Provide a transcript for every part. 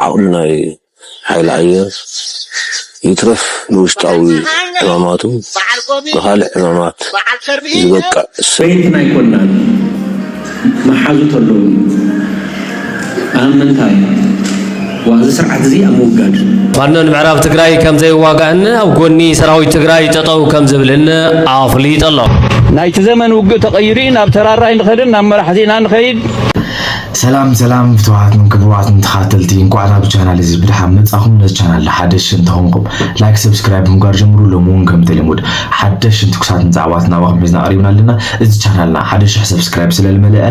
ዓቕሚ ናይ ሓይሊ ኣየር ይትረፍ ንውሽጣዊ ዕማማቱ ንኻልእ ዕማማት ዝበቅዕ ሰብ እዩ። ናይ ኮላል መሓዙት ኣለዉኒ ኣብ ምንታይ? እዚ ስርዓት እዚ ኣብ ምውጋድ። ፋኖ ንምዕራብ ትግራይ ከምዘይዋጋእን ኣብ ጎኒ ሰራዊት ትግራይ ጠጠው ከምዝብልን ኣፍሊጡ ኣሎ። ናይቲ ዘመን ውግእ ተቐይሩ እዩ ናብ ተራራይ ንኸድን ናብ መራሕቲ ኢና ንኸይድ ሰላም ሰላም ፍትዋትን ክቡራትን ተኸታተልቲ እንኳዕ ናብ ቻናል እዚ ብድሓን መጻኹም ነዚ ቻናል ሓደሽ እንተኾንኩም ላይክ ሰብስክራይብ ምግባር ጀምሩ ሎሚ እውን ከምቲ ልሙድ ሓደሽን ትኩሳትን ዛዕባትን ናባኹም ሒዝና ቀሪብና ኣለና እዚ ቻናልና ሓደ ሽሕ ሰብስክራይብ ስለልመለአ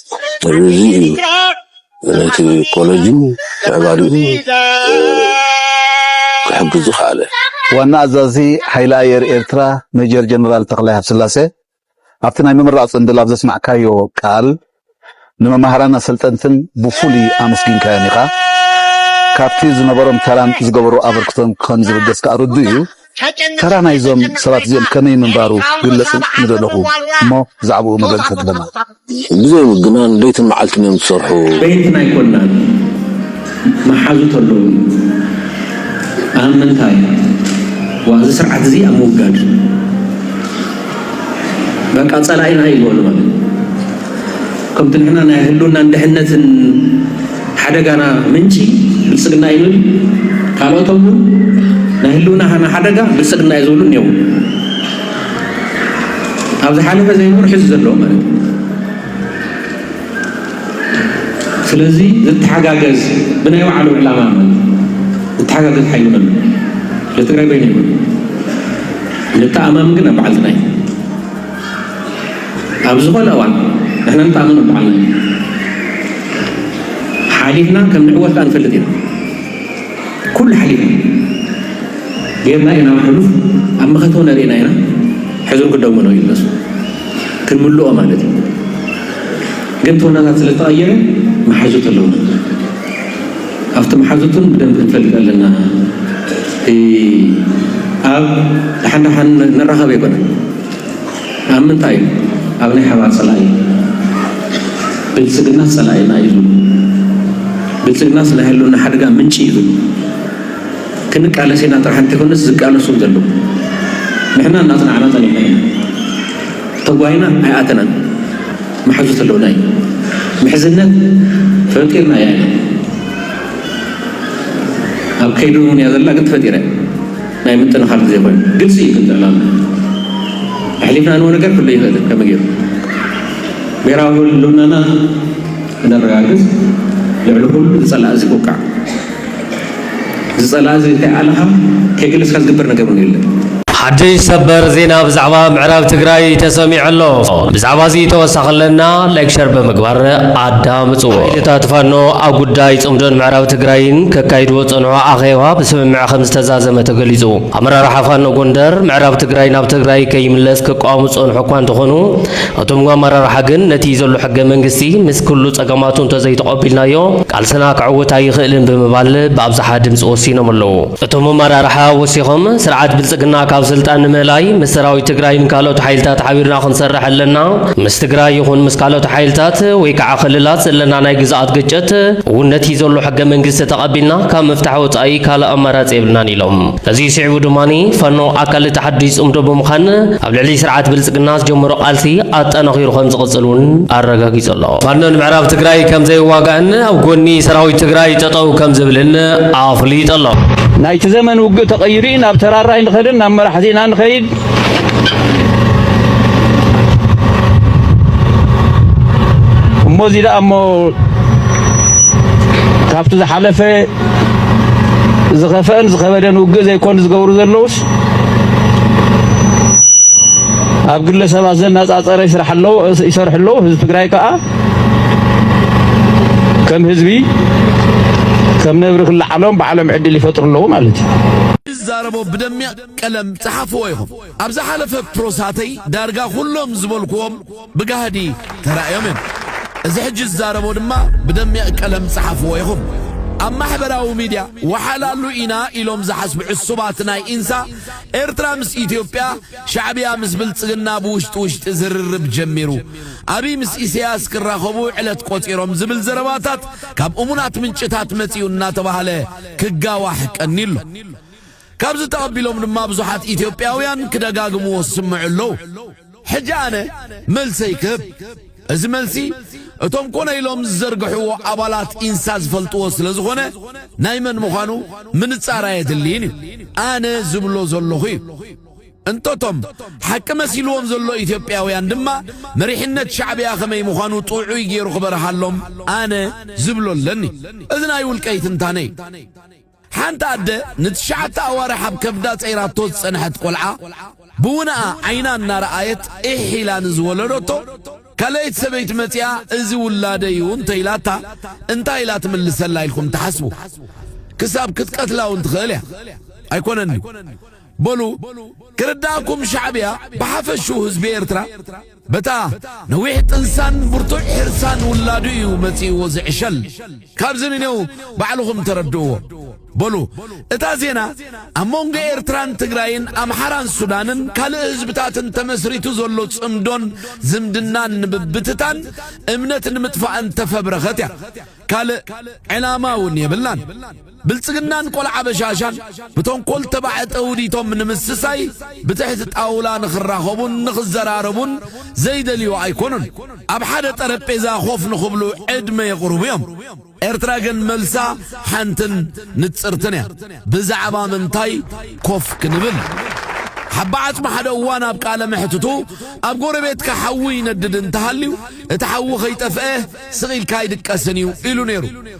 ስለዚ እዩ ነቲ ኮለጅን ምዕባሌኡ ክሕግዝ ዝኸኣለ። ዋና ኣዛዚ ሓይሊ ኣየር ኤርትራ ሜጀር ጀነራል ተኽላይ ሃብስላሰ ኣብቲ ናይ ምምራቕ ጽንብል ኣብ ዘስማዕካዮ ቃል፣ ንመማህራንን ኣሰልጠንትን ብፍሉይ ኣመስጊንካዮም ኢኻ። ካብቲ ዝነበሮም ተራን ዝገበርዎ ኣበርክቶን ከም ዝብገስ ከኣ ርዱእ እዩ። ተራ ናይዞም ሰባት እዚኦም ከመይ ምንባሩ ግለጹ ምደለኹ እሞ ብዛዕብኡ መግለጺ ተትህበና። ብዘይምግናን ለይትን መዓልትን እዮም ዝሰርሑ። ቤት ናይ ኮናት መሓዙት ኣለዉኒ ኣብ ምንታይ ዋእ እዚ ስርዓት እዚ ኣብ ምውጋድ በቃ ጸላኢና እዩ ዝበሉ ማለት ከምቲ ንሕና ናይ ህልውናን ድሕነትን ሓደጋና ምንጪ ብልጽግና እዩ ንብል ካልኦቶም ውን ናይ ህልውና ሃና ሓደጋ ብልጽግና እዩ ዝብሉ እኔዉ ኣብ ዝሓለፈ ዘይነበሩ ሕዚ ዘለዉ ማለት እዩ ስለዚ ዝተሓጋገዝ ብናይ ባዕሉ ዕላማ ማለት ዝተሓጋገዝ ሓይሊ መን ንትግራይ በይኑ ይብሉ ንተኣማምን ግን ኣብ በዓልትና እዩ ኣብ ዝኾነ እዋን ንሕና ንተኣምኖ ብዓልና ኢና ሓሊፍና ከም ንዕወት ከኣ ንፈልጥ ኢና ኩሉ ሓሊፍና ጌርና ኢና ናብ ሕሉፍ ኣብ መኸተው ነርእና ኢና ሕዙር ክደሞ ነው ይመሱ ክንምልኦ ማለት እዩ ግን ተወናታት ስለ ዝተቐየረ መሓዙት ኣለዉ ኣብቲ መሓዙትን ብደንብ ክንፈልጥ ኣለና ኣብ ደሓን ደሓን ንራኸብ ኣይኮነን ኣብ ምንታይ እዩ ኣብ ናይ ሓባር ጸላኢ ብልጽግና ጸላኢና እዩ ዝብሉ ብልጽግና ናይ ህልውና ሓደጋ ምንጪ እዩ ዝብሉ ክንቃለስ ኢና ጥራሕ እንተይኮነስ ዝቃለሱን ዘለዉ ንሕና እናጽናዕና ጸኒሕና ኢና ተጓይና ኣይኣተናን መሓዙት ኣለውና እዩ ምሕዝነት ፈጢርና እያ ኢና ኣብ ከይዲ እውን እያ ዘላ ግን ተፈጢረ ናይ ምጥንኻር ግዜ ኮይኑ ግልፂ እዩ ክንጥዕና ኣለና ኣሕሊፍና ንቦ ነገር ክሉ ይኽእልን ከመይ ገይሩ ብሄራዊ ህልውናና ክነረጋግፅ ልዕሊ ኩሉ ዝፀላእ እዚ ኩቃዕ ዝፀላእ እዚ ከይኣለኻ ከይገለፅካ ዝግበር ነገር እውን የለን። ሓድሽ ሰበር ዜና ብዛዕባ ምዕራብ ትግራይ ተሰሚዑ ኣሎ። ብዛዕባ እዚ ተወሳኺ ኣለና ላይክ ሸር ብምግባር ኣዳምፅዎ። እታት ፋኖ ኣብ ጉዳይ ፅምዶን ምዕራብ ትግራይን ከካይድዎ ዝፀንሑ ኣኼባ ብስምምዕ ከምዝተዛዘመ ተገሊፁ። ኣመራርሓ ፋኖ ጎንደር ምዕራብ ትግራይ ናብ ትግራይ ከይምለስ ክቃወሙ ዝፀንሑ እኳ እንተኾኑ እቶም ኣመራርሓ ግን ነቲ ዘሎ ሕገ መንግስቲ ምስ ኩሉ ፀገማቱ እንተዘይተቐቢልናዮ ቃልስና ከዕውት ኣይኽእልን ብምባል ብኣብዝሓ ድምፂ ወሲኖም ኣለው። እቶም ኣመራርሓ ወሲኾም ስርዓት ብልፅግና ካብ ስልጣን ንምእላይ ምስ ሰራዊት ትግራይን ካልኦት ሓይልታት ሓቢርና ክንሰርሕ ኣለና፣ ምስ ትግራይ ይኹን ምስ ካልኦት ሓይልታት ወይ ከዓ ክልላት ዘለና ናይ ግዝኣት ግጭት እውን ነቲ ዘሎ ሕገ መንግስቲ ተቐቢልና ካብ ምፍታሕ ወፃኢ ካልእ ኣማራፂ የብልናን ኢሎም። ነዙይ ስዒቡ ድማ ፋኖ ኣካል እቲ ሓዱሽ ፅምዶ ብምዃን ኣብ ልዕሊ ስርዓት ብልፅግና ዝጀመሮ ቃልሲ ኣጠናኺሩ ከምዝቕፅል እውን ኣረጋጊፁ ኣሎ። ፋኖ ንምዕራብ ትግራይ ከምዘይዋጋእን ኣብ ጎኒ ሰራዊት ትግራይ ጠጠው ከምዝብልን ኣፍሊጡ ኣሎ። ናይቲ ዘመን ውግእ ተቐይሩ እዩ፣ ናብ ተራራይ ንኸድን ናብ መራሕቲና ንኸይድ እሞ እዚ ደኣ እሞ ካብቲ ዝሓለፈ ዝኸፈአን ዝኸበደን ውግእ ዘይኮን ዝገብሩ ዘለውስ ኣብ ግለ ሰባት ዘነጻጸረ ይስራሕ ኣለዎ ይሰርሑ ኣለዎ። ህዝቢ ትግራይ ከዓ ከም ህዝቢ ከም ነብሪ ክለዓሎም ባዕሎም ዕድል ይፈጥሩ ኣለዉ ማለት እዩ። ይዛረቦ ብደሚያ ቀለም ጸሓፍዎ ኢኹም። ኣብ ዝሓለፈ ፕሮሳተይ ዳርጋ ኩሎም ዝበልክዎም ብጋህዲ ተራእዮም እዮም። እዚ ሕጂ ዝዛረቦ ድማ ብደሚቕ ቀለም ጸሓፍዎ ኢኹም። ኣብ ማሕበራዊ ሚድያ ወሓላሉ ኢና ኢሎም ዝሓስቡ ዕሱባት ናይ ኢንሳ ኤርትራ ምስ ኢትዮጵያ ሻዕብያ ምስ ብልጽግና ብውሽጢ ውሽጢ ዝርርብ ጀሚሩ ኣብይ ምስ ኢሳያስ ክራኸቡ ዕለት ቆጺሮም ዝብል ዘረባታት ካብ እሙናት ምንጭታት መጺኡ እናተባህለ ክጋዋሕ ቀኒሉ ካብዚ ተቐቢሎም ድማ ብዙሓት ኢትዮጵያውያን ክደጋግምዎ ዝስምዑ ኣለዉ። ሕጂ ኣነ መልሰይ ክህብ። እዚ መልሲ እቶም ኮነ ኢሎም ዝዘርግሕዎ ኣባላት ኢንሳ ዝፈልጥዎ ስለ ዝኾነ ናይ መን ምዃኑ ምንጻር ኣየድልይን እዩ። ኣነ ዝብሎ ዘለኹ እዩ። እንተቶም ሓቂ መሲልዎም ዘሎ ኢትዮጵያውያን ድማ መሪሕነት ሻዕብያ ከመይ ምዃኑ ጥዑይ ገይሩ ክበርሃሎም ኣነ ዝብሎ ኣለኒ። እዚ ናይ ውልቀይ ትንታነ እዩ። ሓንቲ ኣደ ንትሽዓተ ኣዋርሕ ኣብ ከብዳ ጸይራቶ ዝጸንሐት ቆልዓ ብውነኣ ዓይና እናረኣየት ኢሕ ኢላ ንዝወለዶቶ ካልኣይቲ ሰበይቲ መጺኣ እዚ ውላደይ እዩ እንተኢላታ እንታይ ኢላ ትምልሰላ ኢልኩም ትሓስቡ? ክሳብ ክትቀትላ እውን ትኽእል እያ። ኣይኮነን ድዩ? በሉ ክርዳኣኩም ሻዕብያ ብሓፈሽኡ ህዝቢ ኤርትራ በታ ነዊሕ ጥንሳን ብርቱዕ ሕርሳን ውላዱ እዩ መጺእዎ ዝዕሸል ካብዚ ንኔው ባዕልኹም ተረድእዎ በሉ እታ ዜና ኣብ መንጎ ኤርትራን ትግራይን ኣምሓራን ሱዳንን ካልእ ህዝብታትን ተመስሪቱ ዘሎ ጽምዶን ዝምድናን ንምብትታን እምነት ንምጥፋእን ተፈብረኸት እያ ካልእ ዕላማ እውን የብላን ብልጽግናን ቆልዓ በሻሻን ብተንኮል ተባዕተ ውዲቶም ንምስሳይ ብትሕቲ ጣውላ ንኽራኸቡን ንኽዘራረቡን ዘይደልዩ ኣይኮኑን። ኣብ ሓደ ጠረጴዛ ኮፍ ንኽብሉ ዕድመ የቕርቡ እዮም። ኤርትራ ግን መልሳ ሓንትን ንጽርትን እያ። ብዛዕባ ምንታይ ኮፍ ክንብል? ሓባ ዓጽሚ ሓደ እዋን ኣብ ቃለ መሕትቱ ኣብ ጎረቤትካ ሓዊ ይነድድ እንተሃልዩ እቲ ሓዊ ከይጠፍአ ስቕ ኢልካ ኣይድቀስን እዩ ኢሉ ነይሩ።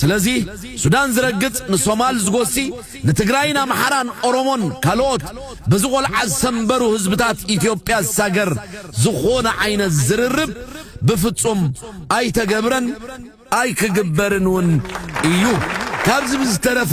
ስለዚ ሱዳን ዝረግጽ ንሶማል ዝጎሲ ንትግራይን ኣምሓራን ኦሮሞን ካልኦት በዚ ቆልዓ ዝሰንበሩ ህዝብታት ኢትዮጵያ ዝሳገር ዝኾነ ዓይነት ዝርርብ ብፍጹም ኣይተገብረን ኣይክግበርን እውን እዩ። ካብዚ ብዝተረፈ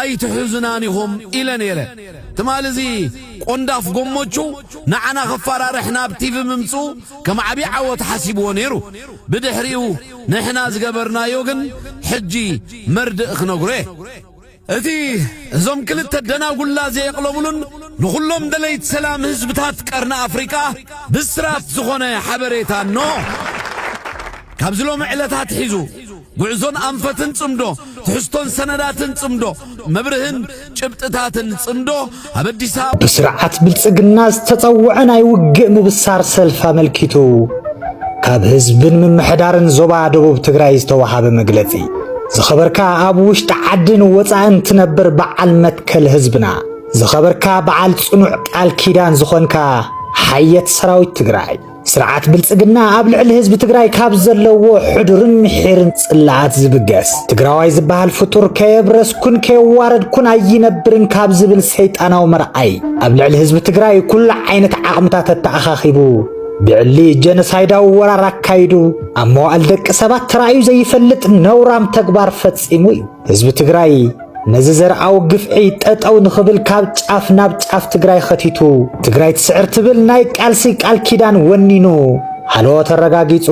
ኣይትሕዙናን ኢኹም ኢለ ነይረ ትማሊ እዚ ቆንዳፍ ጎሞቹ ንዓና ከፋራርሕ ናብ ቲቪ ምምጽኡ ከም ዓቢ ዓወት ሓሲብዎ ነይሩ ብድሕሪኡ ንሕና ዝገበርናዮ ግን ሕጂ መርድእ ክነግሮ እየ እቲ እዞም ክልተ ደናጉላ ዘየቕለቡሉን ንኹሎም ደለይት ሰላም ህዝብታት ቀርኒ ኣፍሪቃ ብስራት ዝኾነ ሓበሬታ እኖ ካብዚ ሎሚ ዕለት ኣትሒዙ ጉዕዞን ኣንፈትን ጽምዶ፣ ትሕዝቶን ሰነዳትን ጽምዶ፣ መብርህን ጭብጥታትን ጽምዶ፣ ኣብ ኣዲስ ኣበባ። ብስርዓት ብልጽግና ዝተጸውዐ ናይ ውግእ ምብሳር ሰልፊ ኣመልኪቱ ካብ ህዝብን ምምሕዳርን ዞባ ደቡብ ትግራይ ዝተዋሃበ መግለጺ። ዝኸበርካ ኣብ ውሽጢ ዓድን ወጻእን ትነብር በዓል መትከል ህዝብና፣ ዝኸበርካ በዓል ጽኑዕ ቃል ኪዳን ዝኾንካ ሓየት ሰራዊት ትግራይ፣ ስርዓት ብልጽግና ኣብ ልዕሊ ህዝቢ ትግራይ ካብ ዘለዎ ሕዱርን ምሒርን ጽላኣት ዝብገስ ትግራዋይ ዝበሃል ፍጡር ከየብረስኩን ከየዋረድኩን ኣይነብርን ካብ ዝብል ሰይጣናዊ መርኣይ ኣብ ልዕሊ ህዝቢ ትግራይ ኩሉ ዓይነት ዓቕምታት ኣተኣኻኺቡ ብዕሊ ጀኖሳይዳዊ ወራር ኣካይዱ ኣብ መዋእል ደቂ ሰባት ተራእዩ ዘይፈልጥ ነውራም ተግባር ፈጺሙ እዩ ህዝቢ ትግራይ ነዚ ዘርዓዊ ግፍዒ ጠጠው ንኽብል ካብ ጫፍ ናብ ጫፍ ትግራይ ኸቲቱ ትግራይ ትስዕር ትብል ናይ ቃልሲ ቃል ኪዳን ወኒኑ ሃሎ ተረጋጊጹ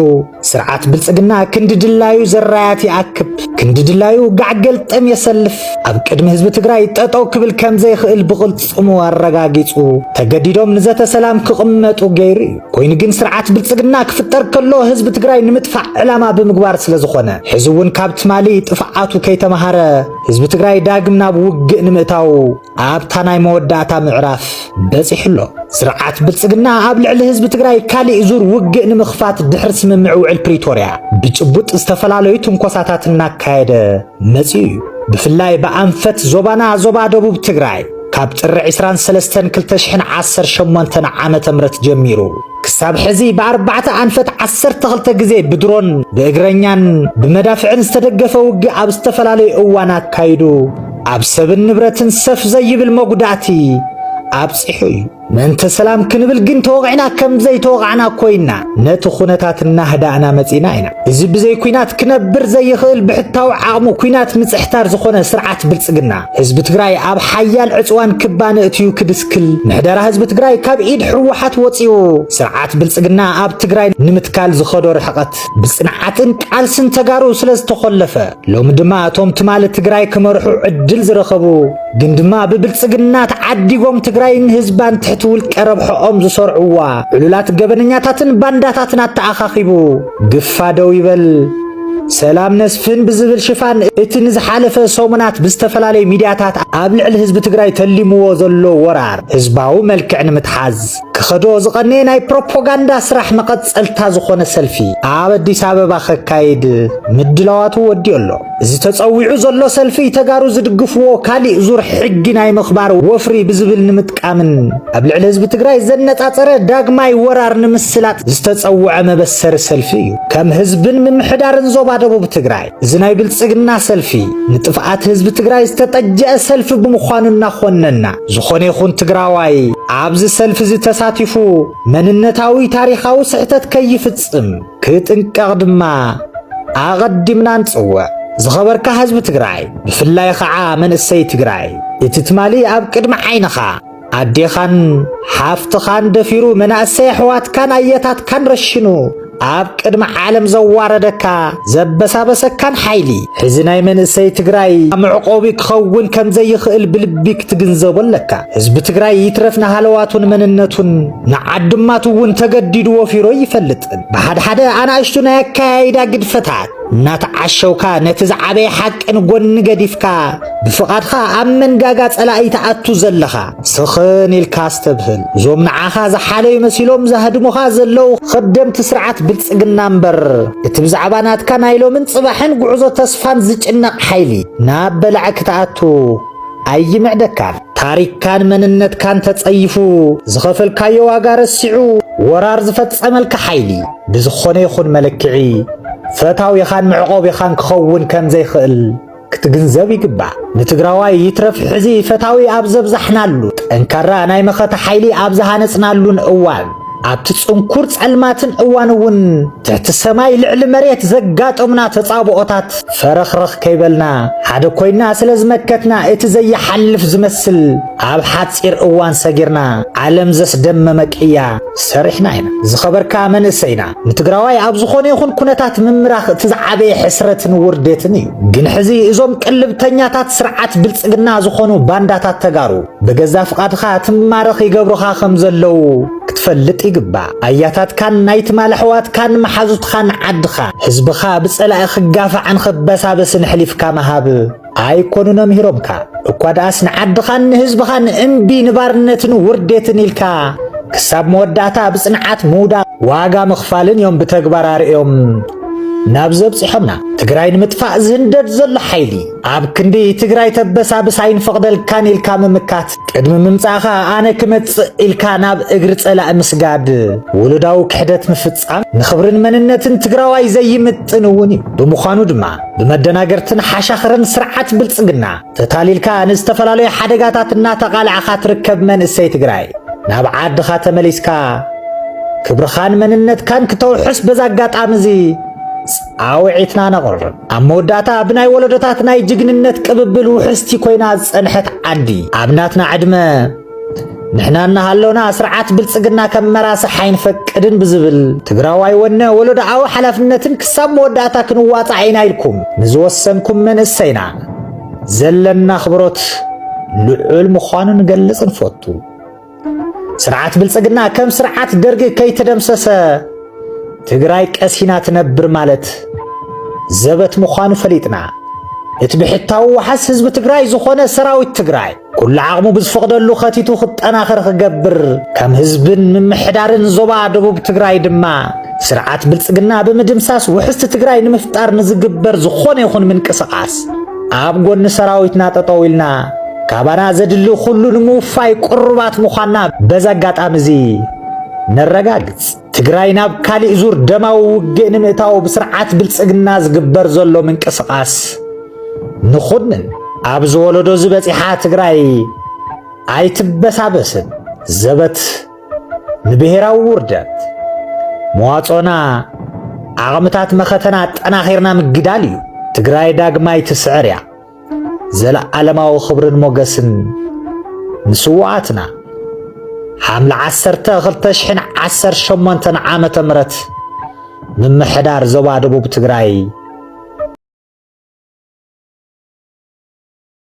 ስርዓት ብልጽግና ክንዲ ድላዩ ዘራያት ይኣክብ ክንዲ ድላዩ ጋዕገልጠም የሰልፍ ኣብ ቅድሚ ህዝቢ ትግራይ ጠጠው ክብል ከም ዘይኽእል ብቕልጽሙ ኣረጋጊጹ ተገዲዶም ንዘተ ሰላም ክቕመጡ ገይሩ እዩ። ኮይኑ ግን ስርዓት ብልጽግና ክፍጠር ከሎ ህዝቢ ትግራይ ንምጥፋእ ዕላማ ብምግባር ስለ ዝኾነ ሕዚ እውን ካብ ትማሊ ጥፍዓቱ ከይተምሃረ ህዝቢ ትግራይ ዳግም ናብ ውግእ ንምእታው ኣብታ ናይ መወዳእታ ምዕራፍ በጺሑ ኣሎ። ስርዓት ብልጽግና ኣብ ልዕሊ ህዝቢ ትግራይ ካሊእ ዙር ውግእ ንምኽፋት ድሕሪ ስምምዕ ውዕል ፕሪቶርያ ብጭቡጥ ዝተፈላለዩ ትንኮሳታት እናካየደ መጺኡ እዩ። ብፍላይ ብኣንፈት ዞባና ዞባ ደቡብ ትግራይ ካብ ጥሪ ዕስራን ሰለስተን ክልተ ሽሕን ዓሰርተ ሸሞንተን ዓመተ ምህረት ጀሚሩ ክሳብ ሕዚ ብኣርባዕተ ኣንፈት ዓሰርተ ክልተ ግዜ ብድሮን ብእግረኛን ብመዳፍዕን ዝተደገፈ ውግእ ኣብ ዝተፈላለዩ እዋን ኣካይዱ ኣብ ሰብን ንብረትን ሰፍ ዘይብል መጉዳእቲ ኣብጺሑ እዩ። ምእንተ ሰላም ክንብል ግን ተወቒዕና ከም ዘይተወቓዕና ኮይና ነቲ ኩነታት እናህዳእና መጺእና ኢና። እዚ ብዘይ ኩናት ክነብር ዘይኽእል ብሕታዊ ዓቕሙ ኩናት ምጽሕታር ዝኾነ ስርዓት ብልጽግና፣ ህዝቢ ትግራይ ኣብ ሓያል ዕጽዋን ክባን እእትዩ ክድስክል፣ ምሕደራ ህዝቢ ትግራይ ካብ ኢድ ህወሓት ወጺኡ ስርዓት ብልጽግና ኣብ ትግራይ ንምትካል ዝኸዶ ርሕቐት ብጽንዓትን ቃልስን ተጋሩ ስለ ዝተኾለፈ ሎሚ ድማ እቶም ትማሊ ትግራይ ክመርሑ ዕድል ዝረኸቡ ግን ድማ ብብልጽግና ተዓዲጎም ትግራይን ህዝባን ትሕቲ ውልቀ ረብሖኦም ዝሰርዕዋ ዕሉላት ገበነኛታትን ባንዳታትን ኣተኣኻኺቡ ግፋ ደው ይበል ሰላም ነስፍን ብዝብል ሽፋን እቲ ንዝሓለፈ ሰሙናት ብዝተፈላለዩ ሚድያታት ኣብ ልዕሊ ህዝቢ ትግራይ ተሊምዎ ዘሎ ወራር ህዝባዊ መልክዕ ንምትሓዝ ክኸዶ ዝቐነየ ናይ ፕሮፖጋንዳ ስራሕ መቐጸልታ ዝኾነ ሰልፊ ኣብ ኣዲስ ኣበባ ከካይድ ምድላዋቱ ወዲኦ ኣሎ። እዚ ተጸዊዑ ዘሎ ሰልፊ ተጋሩ ዝድግፍዎ ካሊእ ዙር ሕጊ ናይ ምኽባር ወፍሪ ብዝብል ንምጥቃምን ኣብ ልዕሊ ህዝቢ ትግራይ ዘነጻጸረ ዳግማይ ወራር ንምስላጥ ዝተጸውዐ መበሰሪ ሰልፊ እዩ። ከም ህዝብን ምምሕዳርን ዞባ ደቡብ ትግራይ እዚ ናይ ብልጽግና ሰልፊ ንጥፍኣት ህዝቢ ትግራይ ዝተጠጀአ ሰልፊ ብምዃኑ እናኾነና ዝኾነ ይኹን ትግራዋይ ኣብዚ ሰልፊ እዚ ተሳቲፉ መንነታዊ ታሪኻዊ ስሕተት ከይፍጽም ክጥንቀቕ ድማ ኣቐዲምና ንጽውዕ። ዝኸበርካ ህዝቢ ትግራይ ብፍላይ ኸዓ መንእሰይ ትግራይ እቲ ትማሊ ኣብ ቅድሚ ዓይንኻ ኣዴኻን ሓፍትኻን ደፊሩ መናእሰይ ኣሕዋትካን ኣየታትካን ረሽኑ ኣብ ቅድሚ ዓለም ዘዋረደካ ዘበሳበሰካን ሓይሊ ሕዚ ናይ መንእሰይ ትግራይ መዕቆቢ ክኸውን ከም ዘይኽእል ብልቢ ክትግንዘቦ ኣለካ። ህዝቢ ትግራይ ይትረፍ ንሃለዋቱን መንነቱን ንዓድማቱ እውን ተገዲዱ ወፊሮ ይፈልጥን ብሓድሓደ ኣናእሽቱ ናይ ኣከያይዳ ግድፈታት እናተዓሸውካ ነቲ ዝዓበየ ሓቂ ንጎኒ ገዲፍካ ብፍቓድካ ኣብ መንጋጋ ጸላኢ ተኣቱ ዘለኻ ስኽን ኢልካ ኣስተብህል። እዞም ንዓኻ ዝሓለዩ መሲሎም ዛህድሙኻ ዘለዉ ኸደምቲ ስርዓት ብልጽግና እምበር እቲ ብዛዕባ ናትካ ናይ ሎምን ጽባሕን ጉዕዞ ተስፋን ዝጭነቕ ሓይሊ ናብ በላዒ ክትኣቱ ኣይምዕደካን ታሪክካን መንነትካን ተጸይፉ ዝኸፈልካዮ ዋጋ ረሲዑ ወራር ዝፈጸመልካ ሓይሊ ብዝኾነ ይኹን መለክዒ ፈታዊኻን መዕቆቢኻን ክኸውን ከምዘይኽእል ክትግንዘብ ይግባእ። ንትግራዋይ ይትረፍ ሕዚ ፈታዊ ኣብ ዘብዛሕናሉ፣ ጠንካራ ናይ መኸተ ሓይሊ ኣብ ዝሃነጽናሉን እዋን፣ ኣብቲ ጽንኩር ጸልማትን እዋን እውን ትሕቲ ሰማይ ልዕሊ መሬት ዘጋጠሙና ተጻብኦታት ፈረኽረኽ ከይበልና ሓደ ኮይና ስለ ዝመከትና እቲ ዘይሓልፍ ዝመስል ኣብ ሓጺር እዋን ሰጊርና ዓለም ዘስደመመ ቅያ ሰሪሕና ኢና። ዝኸበርካ መንእሰይና ንትግራዋይ ኣብ ዝኾነ ይኹን ኩነታት ምምራኽ እቲ ዝዓበየ ሕስረትን ውርዴትን እዩ። ግን ሕዚ እዞም ቅልብተኛታት ስርዓት ብልጽግና ዝኾኑ ባንዳታት ተጋሩ ብገዛ ፍቓድኻ ትማረኽ ይገብሩኻ ከም ዘለዉ ክትፈልጥ ይግባእ። ኣያታትካን ናይ ትማል ኣሕዋትካን መሓዙትኻን ዓድኻ፣ ህዝብኻ ብጸላኢ ክጋፋዕን ክበሳበስን ኣሕሊፍካ ምሃብ ኣይኮኑን ኣምሂሮምካ። እኳ ደኣስ ንዓድኻን ንህዝብኻን እምቢ ንባርነትን ውርዴትን ኢልካ ክሳብ መወዳእታ ብጽንዓት ምውዳቕ ዋጋ ምኽፋልን እዮም ብተግባር ኣርእዮም ናብ ዘብጽሖምና ትግራይ ንምጥፋእ ዝህንደድ ዘሎ ሓይሊ። ኣብ ክንዲ ትግራይ ተበሳብስ ኣይንፈቕደልካን ኢልካ ምምካት፣ ቅድሚ ምምጻእኻ ኣነ ክመጽእ ኢልካ ናብ እግሪ ጸላኢ ምስጋድ፣ ውሉዳዊ ክሕደት ምፍጻም ንኽብርን መንነትን ትግራዋይ ዘይምጥን እውን እዩ። ብምዃኑ ድማ ብመደናገርትን ሓሻኽርን ስርዓት ብልጽግና ተታሊልካ ንዝተፈላለዩ ሓደጋታት እናተቓላዕኻ ትርከብ መንእሰይ ትግራይ፣ ናብ ዓድኻ ተመሊስካ ክብርኻን መንነትካን ክተውሕስ በዚ ኣጋጣሚ እዚ ጻውዒትና ነቕርብ። ኣብ መወዳእታ ብናይ ወለዶታት ናይ ጅግንነት ቅብብል ውሕስቲ ኮይና ዝጸንሐት ዓዲ ኣብ ናትና ዕድመ ንሕና እናሃለውና ስርዓት ብልጽግና ከም መራስሕ ኣይንፈቅድን ብዝብል ትግራዋይ ወነ ወለዶኣዊ ሓላፍነትን ክሳብ መወዳእታ ክንዋጻዕ ኢና ኢልኩም ንዝወሰንኩም መንእሰይና ዘለና ኣኽብሮት ልዑል ምዃኑ ንገልጽ ንፈቱ። ስርዓት ብልጽግና ከም ስርዓት ደርግ ከይተደምሰሰ ትግራይ ቀሲና ትነብር ማለት ዘበት ምዃኑ ፈሊጥና እቲ ብሕታዊ ዋሓስ ህዝቢ ትግራይ ዝኾነ ሰራዊት ትግራይ ኩሉ ዓቕሙ ብዝፈቕደሉ ኸቲቱ ክጠናኸር ክገብር ከም ህዝብን ምምሕዳርን ዞባ ደቡብ ትግራይ ድማ ስርዓት ብልጽግና ብምድምሳስ ውሕስቲ ትግራይ ንምፍጣር ንዝግበር ዝኾነ ይኹን ምንቅስቓስ ኣብ ጎኒ ሰራዊትና ጠጠው ኢልና ካባና ዘድሊ ኩሉ ንምውፋይ ቅሩባት ምዃንና በዚ ኣጋጣሚ እዚ ነረጋግጽ። ትግራይ ናብ ካሊእ ዙር ደማዊ ውግእ ንምእታው ብስርዓት ብልጽግና ዝግበር ዘሎ ምንቅስቓስ ንኹንን ኣብዚ ወለዶ ዝበጺሓ ትግራይ ኣይትበሳበስን ዘበት ንብሔራዊ ውርደት መዋጾና ዓቕምታት መኸተና ኣጠናኺርና ምግዳል እዩ። ትግራይ ዳግማይ ትስዕር እያ። ዘለዓለማዊ ክብርን ሞገስን ንስዋኣትና ሓምለ 1218 ዓመተ ምህረት ምምሕዳር ዞባ ደቡብ ትግራይ